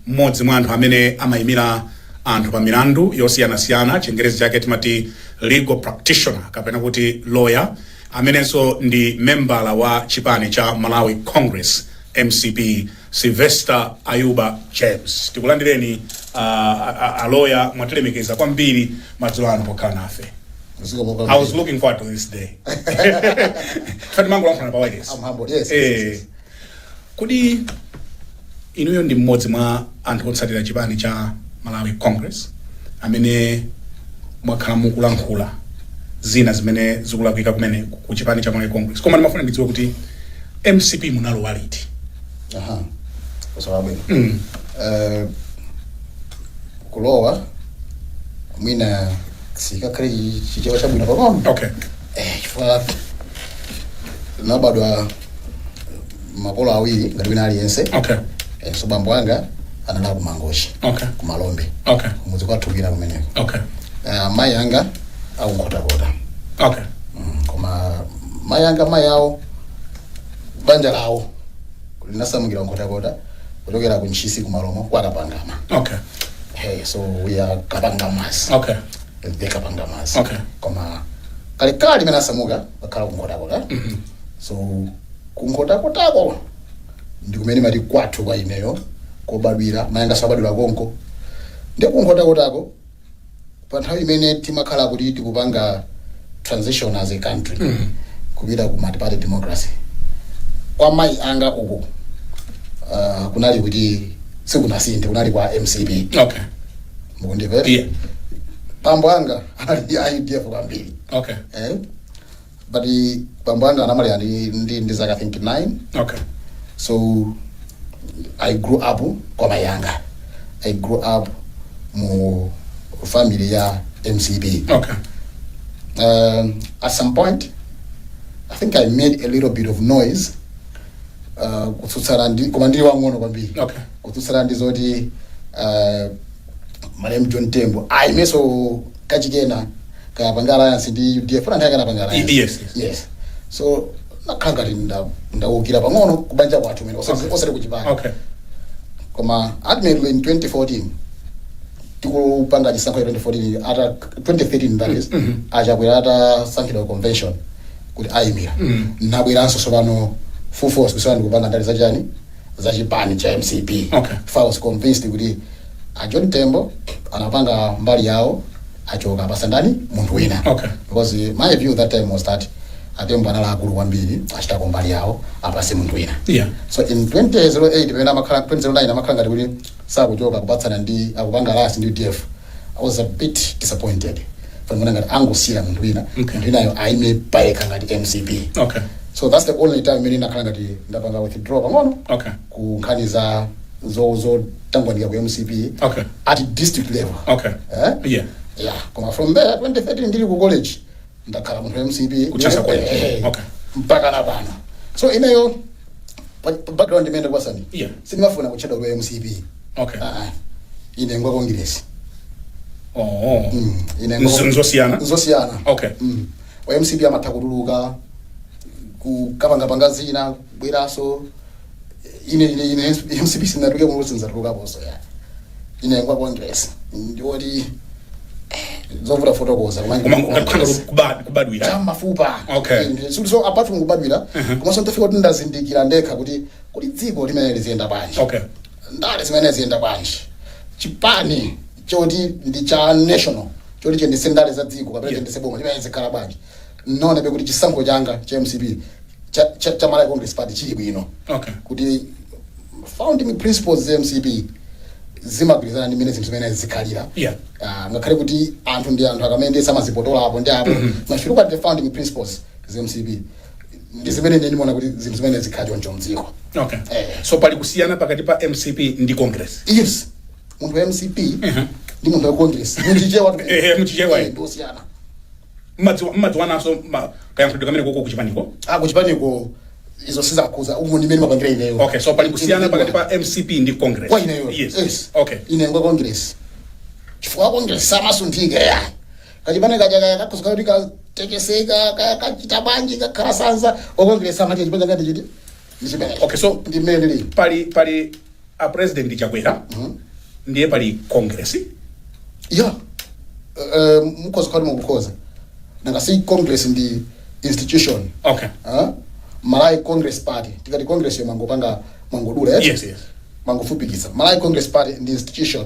mmodzi mwa anthu amene amaimira anthu pa milandu yosiyanasiyana, chingerezi chake timati legal practitioner kapena kuti lawyer, amenenso ndi membala wa chipani cha Malawi Congress, mcp, Silvester Ayuba James. Tikulandireni uh, aloya, mwatilemekeza kwambiri madzulo ano pokhala nafe. I was looking forward to this day. Tatimangolankhulana pa wireless. I'm humbled. Yes. yes, yes. Eh, Kodi inuyo ndi mmodzi mwa anthu otsatira chipani cha Malawi Congress amene mwakhala mukulankhula zina zimene zikulakwika kumene ku chipani cha Malawi Congress? Koma ndimafuna ndidziwe kuti mcp munalowa liti? Aha. Funso labwino. Mm. Eh, kulowa mwina sikakhale chichewa chabwino pang'ono Okay. eh, chifukwa nabadwa makolo awiri ngati wina aliyense okay Eh, so bambo anga anali aku mangochi okay ku malombe okay kumudzi kwathu kwina kumeneko okay Ah, mayi anga akunkhotakota okay Mm, koma mayi anga mayi awo banja lawo linasamukira kunkhotakota kuchokera ku ntchisi ku malomo kwa kapangama okay hey, so we are kapangamas okay the kapangamas Okay. koma kalekale limene asamuka akhala kunkhotakota so kunkhotakotako ndi kumene mati kwathu kwa ineyo kobadwira mayi anganso abadwira konko ndi kunkhotakotako pa nthawi imene timakhala kuti tikupanga transition as a country kupita ku multiparty democracy kwa mayi anga uku uh, kunali kuti sikunasinthe kunali kwa mcp okay mukundimvera yeah bambo anga ali a udf kwambiri okay eh? but eh, bambo anga anamwalira ndi, ndili ndi zaka i think 9 okay so i grew up kwa mai anga i grew up mu family ya mcp okay um, at some point i think i made a little bit of noise uh, kutsutsana ndi koma ndili wang'ono kwambiri okay kutsutsana ndi zoti uh, Malemu John Tembo aimeso kachikena kupanga alliance ndi UDF kuti anthu akanapanga alliance. Yes, yes. Yes. So nakhala ngati nda- ndaukira pang'ono kubanja kwathu kumene osati Okay. osati kuchipani. okay Koma ultimately in 2014 tikupanga chisankho cha 2014 ata 2013 that is achakwera atasankhidwa convention kuti ayimira nabweranso tsopano full force kusana ndikupanga ndale zachani zachipani cha mcp Okay. If I was convinced kuti a John Tembo anapanga mbali yawo achoka apasa ndani munthu wina Okay. because my view that time was that a Tembo anali akulu kwambiri achitako mbali yawo apase munthu wina Yeah. so in 2008 pamene amakhala 2009 amakhala ngati kuti sakuchoka kupatsana ndi akupanga alliance ndi udf i was a bit disappointed pamene ngati angosiyira munthu wina Okay. munthu winayo aime payekha ngati mcp Okay. so that's the only time imene ndakhala ngati ndapanga withdraw pang'ono Okay. ku nkhani za zo zotangwanika ku mcp Okay. at district level Okay. eh? Yeah. yeah. koma from there 2013 ndili ku college ndakhala munthu wa mcp Ku Chancellor College. Eh, eh, Okay. mpaka na pano so ineyo pa- pa background imene kwasani Yeah. sindimafuna kutchedwa kuti wa mcp Okay. Ah, ah. ine ngwa congress Oh, oh. Mm, ine Nzo- nzosiyana? nzosiyana Okay. mm. wa mcp amatha kutuluka kukapangapanga zina kubweranso ine ine ine mcp sinatulukemo sinzatulukaponso ya ine ngwa congress ndiye ndi zovuta kufotokoza koma koma ngati kukhala ngati kubad- kubadwira ya mmafupa Okay. Inde. so so apart from kubadwira komanso ndafika kuti ndazindikira ndekha kuti kuti dziko limayenera liziyenda bwanji okay ndale zimayenera ziziyenda bwanji chipani choti ndi cha national choti chiyendetse ndale za dziko kapena Yeah. chiyendetse boma chimayenera chizikhala bwanji Nnaonabe kuti chisankho changa cha mcp cha, cha, cha Malawi Congress Party chili bwino Okay. kuti founding principles za mcp zimagwirizana ndi mmene zinthu zimayenera zizikhalira Yeah. Ah, ngakhale kuti anthu ndi anthu akumene amazipotoza apo ndi apo but if you look at the founding principles za mcp ndi zimene ine ndimaona kuti zinthu zimayenera zizikhala choncho mdziko Okay. Eh. So pali kusiyana pakati pa MCP ndi Congress. yes munthu wa mcp ndi munthu wa congress muchichewa Eh, eh, muchichewa, eh. ndosiyana Mmadziwa- mmadziwananso ma- kayankhulidwe kamene konko kuchipaniko Ah, kuchipaniko izo sizikukhudza umu ndimene mapangira ineyo okay so pali kusiyana pakati pa mcp ndi congress kwa ineyo yes, yes. okay ine ngwa congress chifukwa congress samasunthika ya kachipani kaja kaya kakuuza kuti katekeseka kaya kachita bwanji kakhala sanza wa congress amati chipani changa ndi ichi ndi zimenezo Okay, so ndi mmene lili pali pali a president Chakwera ndiye pali Congress ya eh, mukhoza kutero mukhoza nanga si congress ndi institution okay Huh? malawi congress party tikati congress yo timangopanga timangodula eti? Yes, yes. timangofupikitsa malawi congress party ndi institution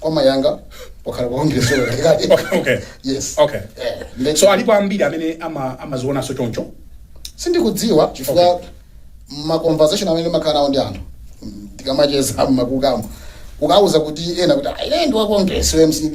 kwa moyo wanga ndakhala wa congress Okay. yes Okay. Eh, nde- so alipo ambiri amene ama- amazionanso choncho sindikudziwa chifukwa Okay. ma conversation amene ndimakhala nawo ndi anthu mm, tikamacheza mmakukamo ukauza kuti ena kuti "Ah, ine ndi wa congress wa mcp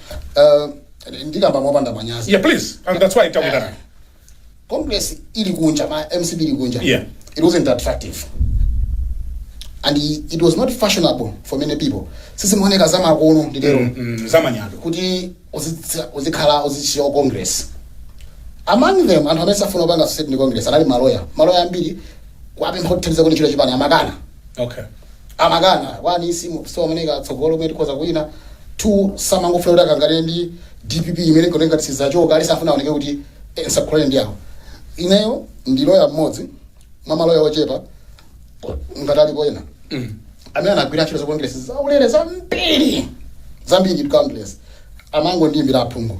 Uh, ndikamba mopanda manyazi yeah please and that's why takwitana congress ili kunja ma mcp ili kunja Yeah. it wasn't attractive and i- it was not fashionable for many people sizimaoneka zamakono nditero mm, zamanyado kuti uzitsi- uzikhala uzichita za congress among them anthu amene samafuna kupanga associate ndi congress anali maloya maloya ambiri kuapempha kuthandiza ku ntchito za chipani amakana okay amakana, 1 samaona tsogolo limene tikhoza kuwina, 2 samangofuna kuti akangane ndi dpp imene ikuoneka ngati sizachoka, aliyense amafuna aoneke kuti eh, nsakhulane ndi awo. Ineyo ndi loya mmodzi mwa maloya ochepa ngati alipo ena amene anagwira ntchito za congress zaulere zambiri zambiri ndi congress amangondiimbira aphungu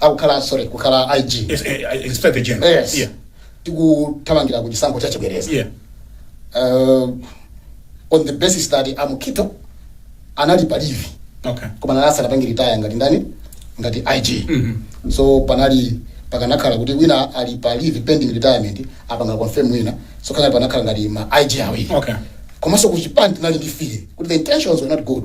akukhala sorry kukhala ig Yes, eh, eh, Inspector General. yes Yeah. tikuthamangira ku chisankho cha chibwereza Yeah. uh, on the basis that amukito anali palivi Okay. koma asanapange retire ngati ndani ngati ig Mhm. so panali pakanakhala kuti wina ali pa leave pending retirement apanga confirm wina so pakanakhala ngati ma ig awiri Okay. komanso kuchipani tinali ndi fear kuti the intentions were not good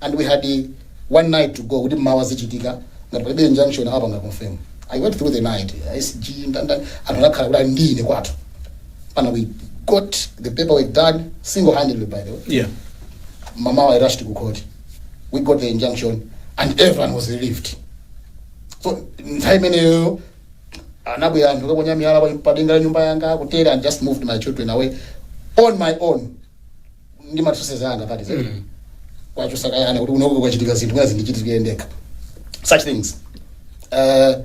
and we had one night to go kuti mawa zichitika ngati palibe injunction awapanga confirm i worked through the night sg ndanda anthu amakhala kuti ali ndi ine kwathu pana we got the paperwork done single handedly by the way yeah mamawa i rushed ku court we got the injunction and everyone was relieved so nthawi imeneyo anabwera anthu kuponya miyala pa- padenga la nyumba yanga ku area and just moved my children away on my own ndi ma resources anga pati zedi kuwachotsa kaya kuti unoko kwachitika zinthu mwina zindichitikire ndekha such things Eh,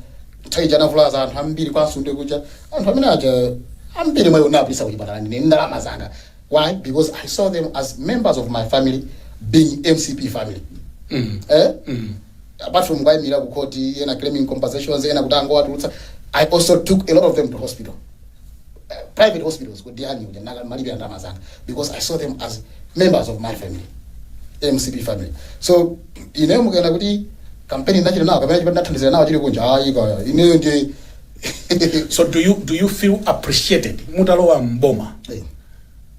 nthawi ija anavulaza anthu ambiri kwa nsundwe kuja anthu amene aja ambiri mwa iwo anawapititsa kuchipatala ndine ndalama zanga why because i saw them as members of my family being mcp family eh? apart from kuwayimira kukhoti ena claiming compensations ena kuti angowatulutsa i also took a lot of them to hospital private hospitals kuti ndiyani kuti naka ma bill andalama zanga because i saw them as members of my family mcp family so ineyo mukanena kuti kampeni ndinachita nawo kapena chipani ndinathandizira nawo chili kunja ayi kaya ineyo ndiye so do you, do you feel appreciated mutalowa mboma Eh.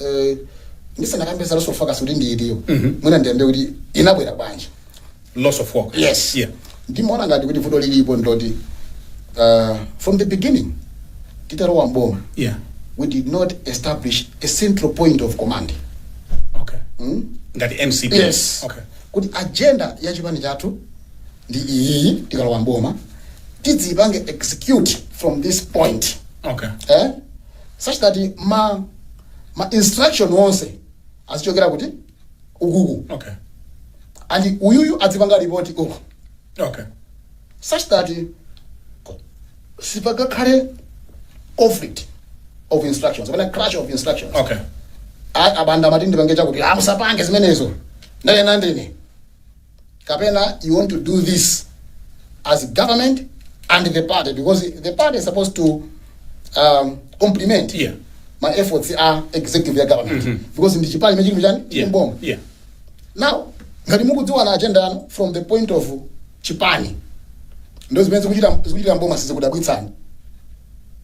eh, ndisanakambe za loss of focus kuti ilipo mwina ndiyambe kuti inabwera bwanji loss of focus yes yeah ndimaona ngati kuti vuto lilipo ndiloti uh, from the beginning titalowa mboma yeah we did not establish a central point of command okay mm? ngati mcp yes okay kuti agenda ya chipani chathu ndi iyi tikalowa mboma tidzipange execute from this point okay eh? such that ma ma instruction onse azichokera kuti ukuku okay and uyuyu adzipanga report uku okay such that sipagakhale conflict of instructions kapena clash of instructions okay A- abanda amati ndipange chakuti musapange zimenezo ndanena ndine kapena you want to do this as government and the party because the party is supposed to um, complement Yeah. my efforts a executive ya government because ndi chipani chimene chili chani chili Yeah. mboma Yeah. now ngati mukudziwa na agenda yanu from the point of chipani ndi zimene zikuchita zikuchita mboma sizikudabwitsani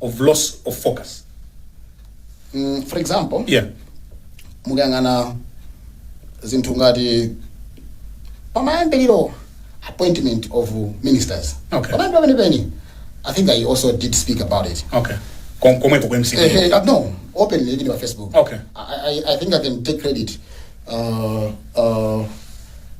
of loss of focus. Mm, for example Yeah. mukayang'ana zinthu ngati pamayambiriro appointment of ministers Okay. pamayambiriro penipeni i think i also did speak about it Okay. Kom- Komweko ku MCP. Eh, eh, uh, no openly even on facebook Okay. I, I, i think i can take credit uh, uh,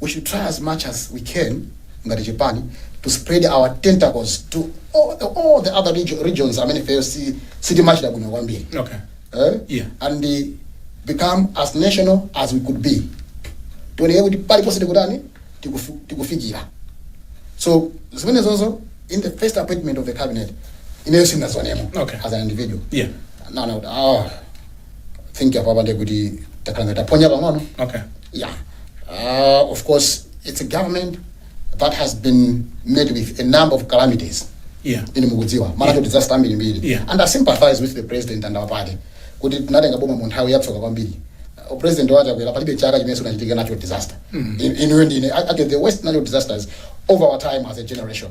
We should try as much as we can ngati chipani to spread our tentacles to all the, all the other regio- regions amene ifeyo si- sitimachita bwino kwambiri Okay. eh? Yeah. and eh, become as national as we could be tioneke kuti paliponse tikutani tikufu- tikufikira so zimenezozo in the first appointment of the cabinet ineyo sindinazionemo Okay. as an individual Yeah. naona kuti ah, think apapa ndiye kuti takhala ngati taphonya pang'ono okay yeah uh, of course it's a government that has been met with a number of calamities yeah ine mukudziwa mwina kuti disaster ambiri mbiri Yeah. and i sympathize with the president and our party kuti tinatenga boma mu nthawi yatsoka kwambiri Uh, president Chakwera palibe chaka chimene sichinachitike nacho disaster In- inuyo ndine I- I get the worst natural disasters over our time as a generation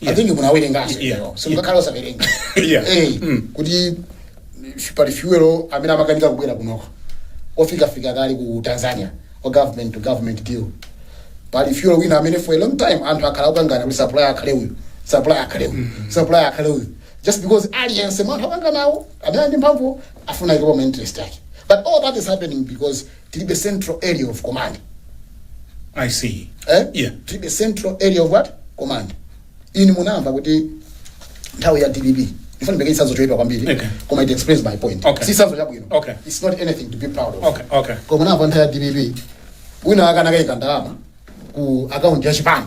Yeah. amene munawerenganso Yeah. iwo. simungakhale osawerenga Yeah. Eh, Mm. kuti pali fuel amene amakanika kubwera kunoko ofikafika kale ku tanzania wa government to government deal pali fuel wina amene for a long time anthu akhala akukangana kuti supply akhale uyu supply akhale uyu supply akhale uyu just because aliyense mwa anthu akukanganawo amene ali ndi mphamvu afuna aikepo ma interest ake but all that is happening because tilibe central area of command I see. eh? Yeah. tilibe central area of what command inu munamva kuti nthawi ya dpp ndifuna ndipereke chitsanzo choipa kwambiri Okay. koma it explains my point Okay. si chitsanzo chabwino Okay. it's not anything to be proud of Okay, okay. koma munamva nthawi ya dpp wina akanakaika ndalama ku akaunti ya chipani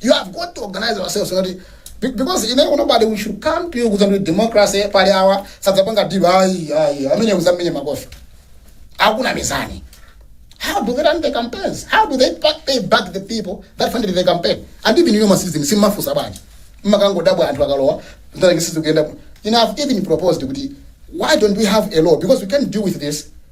you have got to organize ourselves so that be- because in every nobody we should come to you with a democracy pali awa sadzapanga diva ayi ayi amene uzamenye makofi akuna mizani how do they run the campaigns how do they back, they back the people that funded the campaign and even you masizi simmafusa bwanji mmakangodabwa anthu akalowa ndarengisizi kuyenda bwino. you know i've even proposed kuti why don't we have a law because we can deal with this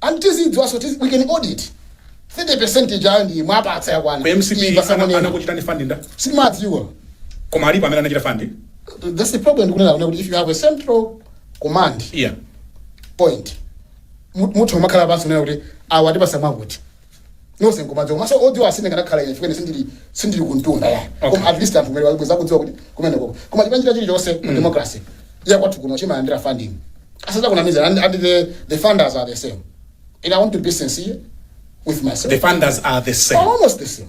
And tizidziwaso tizi we can audit 30% ija ndimwapatsa yakwana Ku mcp Iyi pasamo nena. anakuchitani fund ndani sitimadziwa koma alipo amene anachita fund that's the problem ndikunena kunena kuti if you have a central command area point mu- munthu umakhala pansi kunena kuti awa tipasa mwakuti nonse nkumadziwa komanso odziwa as ine ndikanakhala ine chimene sindili sindili kumtunda ya koma at least anthu kumene wabweza kudziwa kuti kumene koko koma chipani china chilichonse mu democracy ya kwathu kuno chimalandira funding asazakunamize and, and the, the funders are the same and i want to be sincere with myself the funders are the same almost the same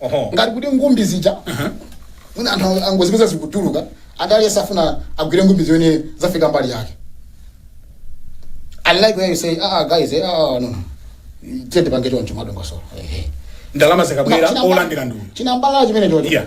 Oho. ngati kuti ngumbi zija wina anthu ang- angozipeza zikutuluka aliyense afuna agwire ngumbi zimene zafika mbali yake unlike where you say ah ah, guys eh, ah ah, no no tiye tipange choncho madongosolo ehe ndalama zikabwera olandira ndulu chinambala chimene choti Yeah.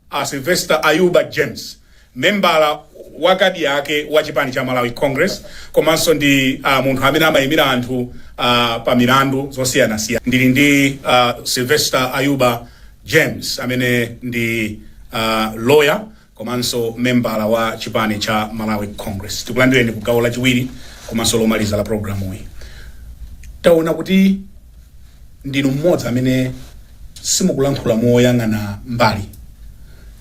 A Sylvester Ayuba James, membala wakabiyawe wa chipani cha Malawi Congress komanso ndi uh, munthu amene amayimira anthu uh, pa milandu zosiyanasiyana. Ndili ndi uh, Sylvester Ayuba James amene ndi uh, lawyer komanso membala wa chipani cha Malawi Congress. Tikulandireni ku gawo lachiwiri komanso lomaliza la programu iyi. Taona kuti ndinu mmodzi amene simukulankhula moyang'ana mbali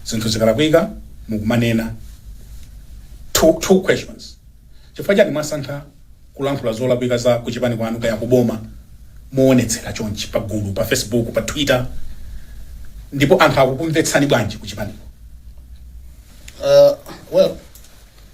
zinthu zikalakwika mukumanena two, two questions chifukwa chani mwasankha kulankhula zolakwika za kuchipani kwanu kaya kuboma moonetsera chonchi pa gulu pa facebook pa twitter ndipo anthu akukumvetsani bwanji kuchipaniko Uh, well,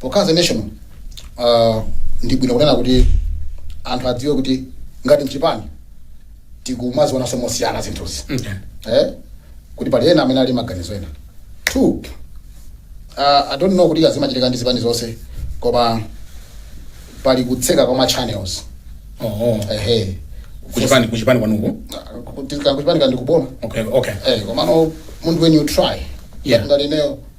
Pokhazika the nation uh, ndi bwino kunena kuti anthu adziwe kuti ngati mchipani tikumazionanso mosiyana zinthuzi eh? kuti pali ena amene ali ndi maganizo ena two uh, i don't know kuti zimachitika ndi zipani zonse koma pali kutseka kwa ma channels Oh, ehe kuchipani kuchipani kwanuko kuchipani ndi kuboma okay okay eh, komano munthu when you try Yeah. ngati ineyo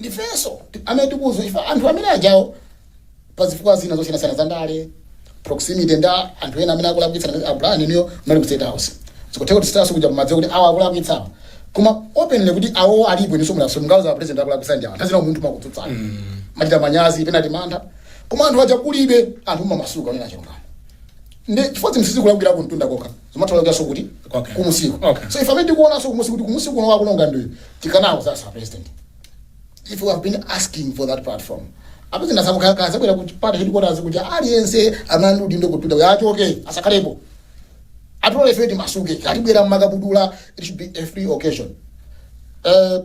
ndifenso ti- amene tikuuzwa chifukwa anthu amene ajao pa zifukwa zina zosiyanasiyana za ndale proximity ndi anthu ena amene akulakwitsa abulani niyo mali ku state house zikutheka kuti sitaso kuja kumadziwa kuti awa akulakwitsawo koma openly kuti awo alipo niso mulaso mungauze president akulakwitsa ndi awa nthawi zina munthu kutsutsana amachita manyazi penaso mantha koma anthu aja kulibe anthu mumamasuka onena chilungamo ndi chifukwa zinthu sizikulakwira kuntunda kokha zimatolokeraso kuti Okay. kumusiko Okay. so if amene tikuonaso kumusi kuti kumusi kuno akuononga ndi tikanawo sasa president if you have been asking for that platform apo zinasamukaka zabwera kuti pata headquarters kuti aliyense amene ali ndi udindo kupita uyo achoke asakhalepo atole ife timasuke tibwera mmakabudula it should be a free occasion uh,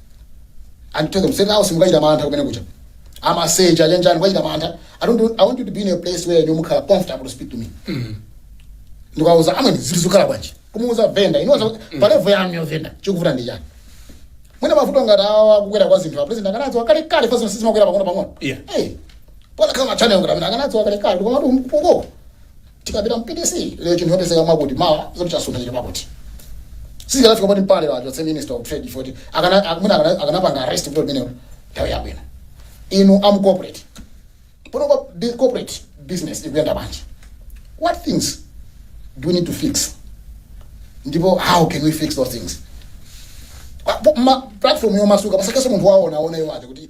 And tell them, state house mukachita mantha kumeneko. Ku Sanjika mukachita mantha. I don't do, I want you to be in a place where you mukhala comfortable to speak to me. Ndikauza amwe zili zikhala bwanji. Kumuuza venda, inoza pa level yanu yo venda. Chikuvuta ndi chani. Mwina mavuto ngati awa kukwera kwa zinthu a president akanadziwa kalekale paja zinthu zimakwera pang'ono pang'ono. Yeah. Hey. Pakanakhala ma channel ngati amenewa akanadziwa kalekale koma kuti mpungo. Tikapita mu PDC lero chinthu chopezeka mwakuti mawa zoti chasuntha chili pakuti. Sizikanafika poti mpaka lero achotse minister of trade chifukwa choti akana ak- mwina akana- akanapanga arrest kuti limenelo nthawi yabwino. Inu a mu corporate. Pano kwa bi- corporate business ikuyenda bwanji? What things do we need to fix? Ndipo how can we fix those things? Pa- po- ma- platform yomasuka pasakhale munthu waona aoneyo aja kuti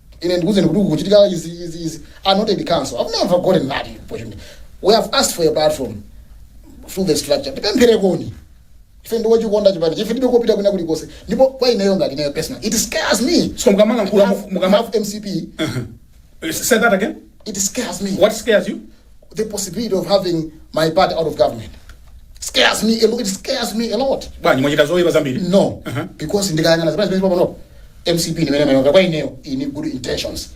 ine ndikuuzeni kuti kukuchitika izi izi izi I'm not in council i've never gotten that opportunity we have asked for a platform through the structure tipempherereni ife ndimachikonda chipani chifukwa ndilibe kopita kwina kulikonse ndipo kwa ineyo ngati ineyo personally it scares me so mukamalankhula Half- mukama half mcp say that again it scares me what scares you the possibility of having my party out of government scares me a lot. It scares me a lot. bwanji mwachita zoyipa zambiri No, Uh-huh. because ndikayang'ana zimene zimene panopo mcp ndimene imayendera kwa ineyo ili ndi good intentions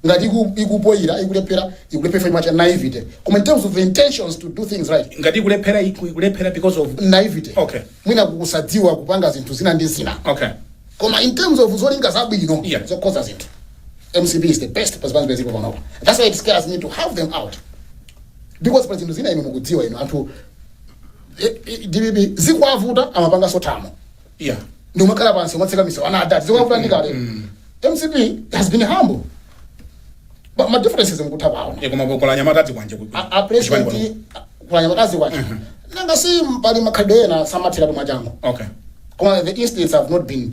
ngati iku- ikupoyira ikulephera ikulephera chifukwa cha naivety koma in terms of the intentions to do things right ngati ikulephera iku- ikulephera because of naivety Okay. mwina kusadziwa kupanga zinthu zina ndi zina okay koma in terms of zolinga zabwino Yeah. zokonza zinthu mcp is the best pa zipani zilipozi panopo that's why it scares me to have them out because pa zinthu zina inu mukudziwa inu anthu eh, eh, dpp zikuwavuta amapanganso zomwe yeah ndi umakhala pansi umatseka miso anaa adati zikuwavuta ndi kale mcp has been humble but ma differences mukutha paona yeah komabe anyamata azikwanje ku a- a president kulanya makazi kwacho nanga si pali makhalidwe ena samatheratu mwachangu okay koma the instincts have not been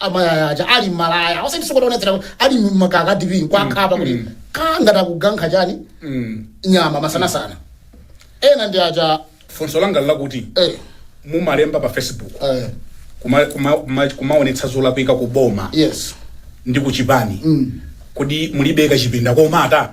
amalaya aja ali mmalaya osati sikuti akuonetsera kuti ali mmakaka DP ndikukhapa kuti mm. kangati akukankha chani Mm. nyama masanasana ena ndi aja funso langa ndi lakuti eh, mumalemba pa facebook eh, kuma- kuma- kuma- kumaonetsa zolakwika ku boma yes ndi ku chipani kodi mulibe kachipinda komata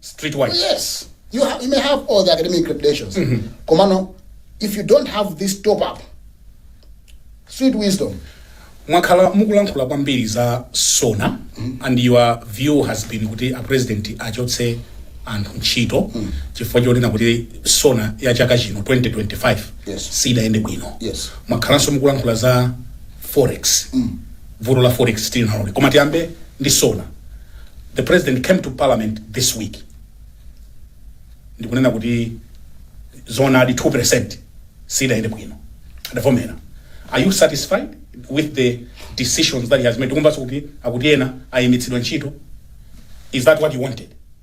streetwise Yes, you, ha- you may have all the academic credentials. Komano, if you don't have this top up, street wisdom, mwakhala mukulankhula kwambiri za sona and your view has been kuti a president achotse anthu ntchito chifukwa chonena kuti sona ya chaka chino 2025 Yes. sidayende bwino Yes. mwakhalanso mukulankhula za forex vuto la forex tilionanso koma tiyambe ndi sona the president came to parliament this week ndikunena kuti zoonadi 2% sidayende bwino adavomera are you satisfied with the decisions that he has made tikumvanso kuti akuti ena ayimitsidwa ntchito is that what you wanted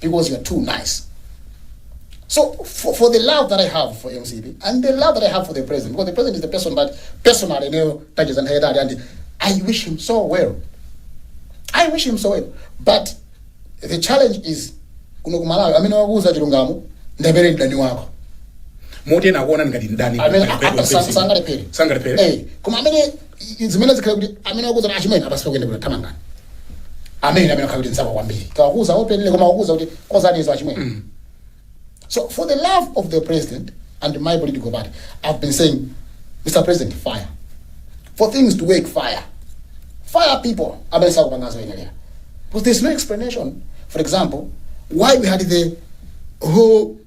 because you're too nice. So for, for the love that I have for MCP and the love that I have for the president, because the president is the person that personally ndinacheza naye and I wish him so well. I wish him so well. But the challenge is kuno ku Malawi amene wakuuza chilungamo ndi amene mdani wako moti ena akuona ngati mdani amene sangalepere sangalepere Eh, koma amene i- i- zimene zikhale kuti amene akuuza kuti achimwene apa sizikuyenda kuti thamangani amene amene akhala kuti nzako kwambiri kawakuza openele koma wakuuza kuti konzani izo achimwene so for the love of the president and my political party i've been saying mr president fire for things to work fire fire people amene sakupanga zoyenelera because there's no explanation for example why we had the whole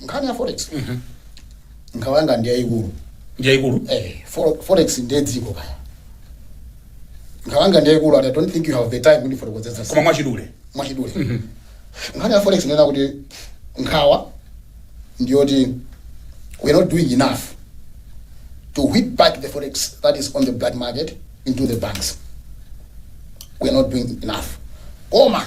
nkhani ya forex nkhawa yanga ndi yayikulu Yaikulu. eh, fore- forex ndiye dziko kaya nkhawa yanga ndi yayikulu and i don't think you have the time kuti ndifotokozetse Koma mwachidule. mwachidule nkhani ya forex ndinena kuti nkhawa ndiyoti we are not doing enough to whip back the forex that is on the black market into the banks we are not doing enough koma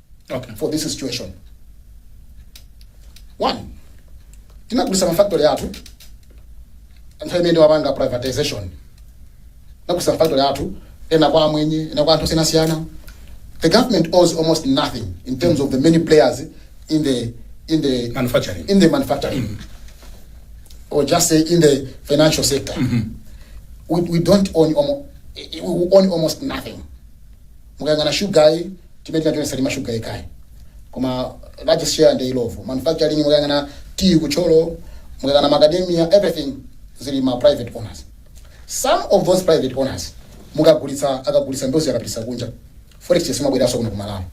okay. for this situation one tinagulisa mafactory athu nthawi imene wapanga privatization tinagulisa mafactory athu ena kwa amwenye ena kwa anthu osiyanasiyana the government owes almost nothing in terms of the many players in the in the Manufacturing. in the manufacturing or just say in the financial sector we, we don't own almost, we own almost nothing Mukayang'ana sugar yo timene tinatenga salima sugar yekhayi koma largest share ndi illovo manufacturing mukayang'ana tea ku thyolo mukayang'ana macadamia everything zili ma private owners some of those private owners mukagulitsa akagulitsa ndiye akapititsa kunja forex exchange siimabweranso kuno ku malawi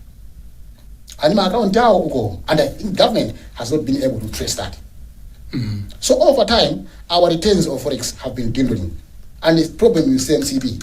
ali ndi ma account awo uko and i think government has not been able to trace that so over time our returns of forex have been dwindling and the problem with mcp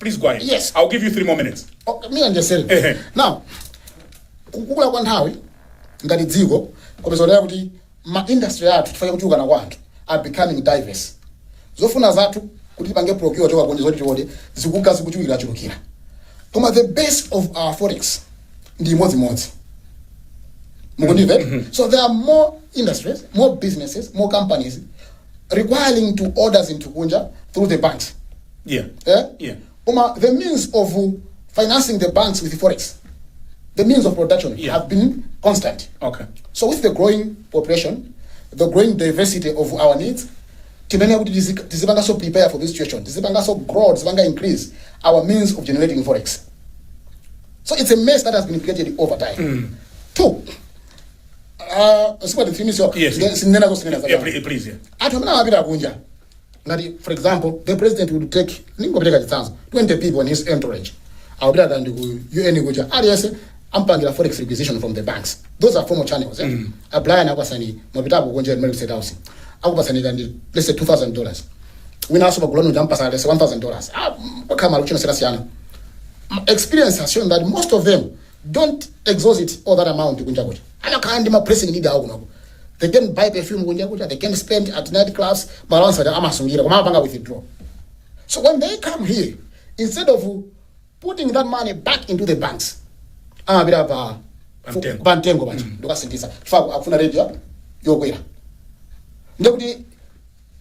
please go ahead Yes. i'll give you three more minutes Okay, me and yourself. Ehe. Now, kukula kwa nthawi ngati dziko mukuzionera kuti ma industry athu chifukwa chakuchulukana kwa anthu are becoming diverse. Zofuna zathu kuti tipange procure kuchoka kunja zoti tiode zikuka zikuchulukira chulukira. Koma the base of our forex ndi imodzimodzi. Mukundimva? So there are more industries, more businesses, more companies requiring to order zinthu kunja through the banks. yeah eh? Yeah. koma the means of uh, financing the banks with forex the means of production Yeah. have been constant okay so with the growing population the growing diversity of our needs timenera kuti tizi- tizipanganso prepare for this situation tizipanganso grow tizipanga increase our means of generating forex so it's a mess that has been created over time two uh, sikwati three minutes yokha Yes. Nge- sinena zosinena yeah, zakale. pl- please yeah anthu amene amapita kunja ngati for example the president would take ndingopereka chitsanzo 20 people in his entourage akupita kaya ndi ku un kuja aliyense ampangira forex requisition from the banks those are formal channels eh? mm. a brian akupatsani mwapitapo kunja muli state house akupatsani kaya ndi let's say 2000 dollars wina asopa kuloni uja ampatsa let's say 1000 dollars ah, kwakhala malo chino sikasiyana experience has shown that most of them don't exhaust it all that amount kunja kuja amakhala ndi ma pressing need awo kunoko they can't buy perfume kunja kuja they can't spend at night clubs ndalama zija amasungira koma amapanga withdraw so when they come here instead of putting that money back into the banks amapita pa Pamtengo. pa mtengo paja ndikukasinthitsa chifukwa akufuna rate ya- yokwera ndikuti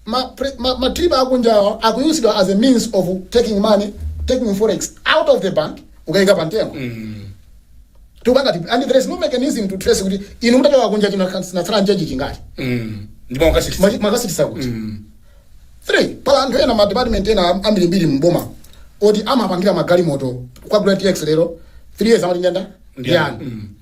ma pre, ma, ma trip akunjawa akuyuzidwa as a means of taking money taking forex out of the bank ukayika pa mtengo tikupanga tipi and there is no mechanism to trace kuti inu mutachoka kunja chino munatsala njenji chingati Mm. ndipo akasitisa Mwachi- mwakasitisa kuti three pala anthu ena ma department ena am- ambirimbiri mboma oti amapangira magalimoto kukagula tx lero three years amati ndenda Ndiyani. ndiyani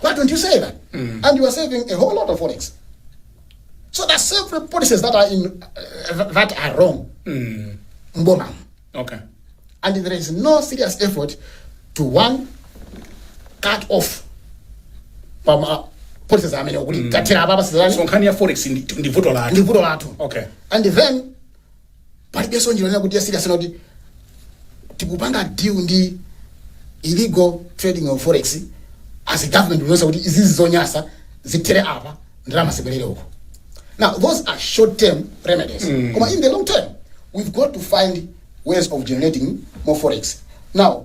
Why don't you say that? And you are saving a whole lot of forex. So that's several policies that are in uh, that are wrong. Mboma. okay And there is no serious effort to one cut off from uh, policies amene kuti tatira apa pasizani so nkhani ya forex ndi ndi vuto lake ndi vuto lathu okay and then palibenso njira yonena kuti yasiriyasana kuti tikupanga deal ndi illegal trading of forex as a government kuonetsa kuti izizi zonyasa zitherepo apa ndalama zibwerere uko now those are short term remedies koma in the long term we've got to find ways of generating more forex now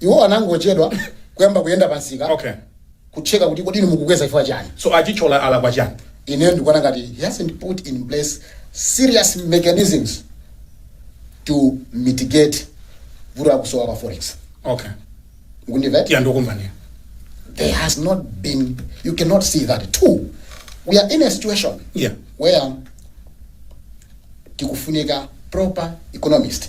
Iwo anangochedwa kuyamba kuyenda pa msika Okay. kucheka kuti kodi inu mukukweza chifukwa chani. So a Chithyola alakwa chani? Ineyo ndikuona ngati he hasn't put in place serious mechanisms to mitigate vuto la kusowa kwa forex. Okay. Mukundimva? Iya ndikukumvani. There has not been you cannot see that. Two, we are in a situation Yeah. where tikufunika proper economist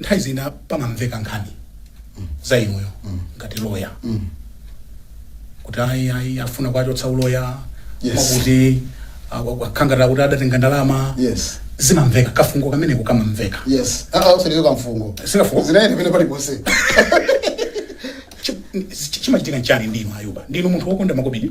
nthawi zina pamamveka nkhani za inuyo ngati loya kuti ayi ayi afuna kuwachotsa uloya Yes. akuti akhala ngati akuti adatenga ndalama yes zinamveka kafungo kameneko kamamveka yes aa usaliwe kamfungo Sikafungo? zinaende pene pali ponse Chi- chi- chimachitika nchani ndinu akuba ndinu munthu wokonda makobidi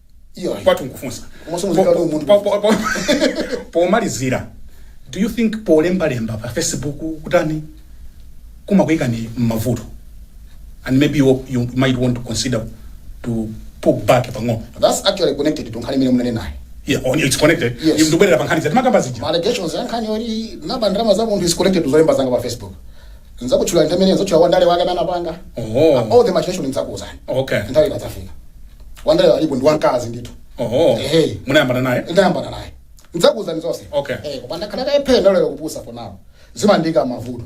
Iyo. kwathu nkufunsa Komanso muzikhala ndi umunthu. Po- po- po- pomalizira do you think polembalemba pa facebook kotereku kumakuyikani mmavuto and maybe you, you might want to consider to pull back pang'ono that's actually connected to nkhani imene munanenayo yeah, on, it's connected Yes. ndibwerera pa nkhani timakamba zija ma allegations ya nkhani yoti ndaba ndalama za munthu is connected to zolemba zanga pa facebook nzakutchula nthawi imene nzakutchule wandale wake amene anapanga Oh. all the machination nzakuuzani okay nthawi ikadzafika wandaleyo alipo ndi wamkazi ndithu oho Ehe. munayambana naye ndayambana naye ndidzakuuzani zonse Okay. Eh, koma ndakhala naye phe ndalolera kupusa for now zimandiika mavuto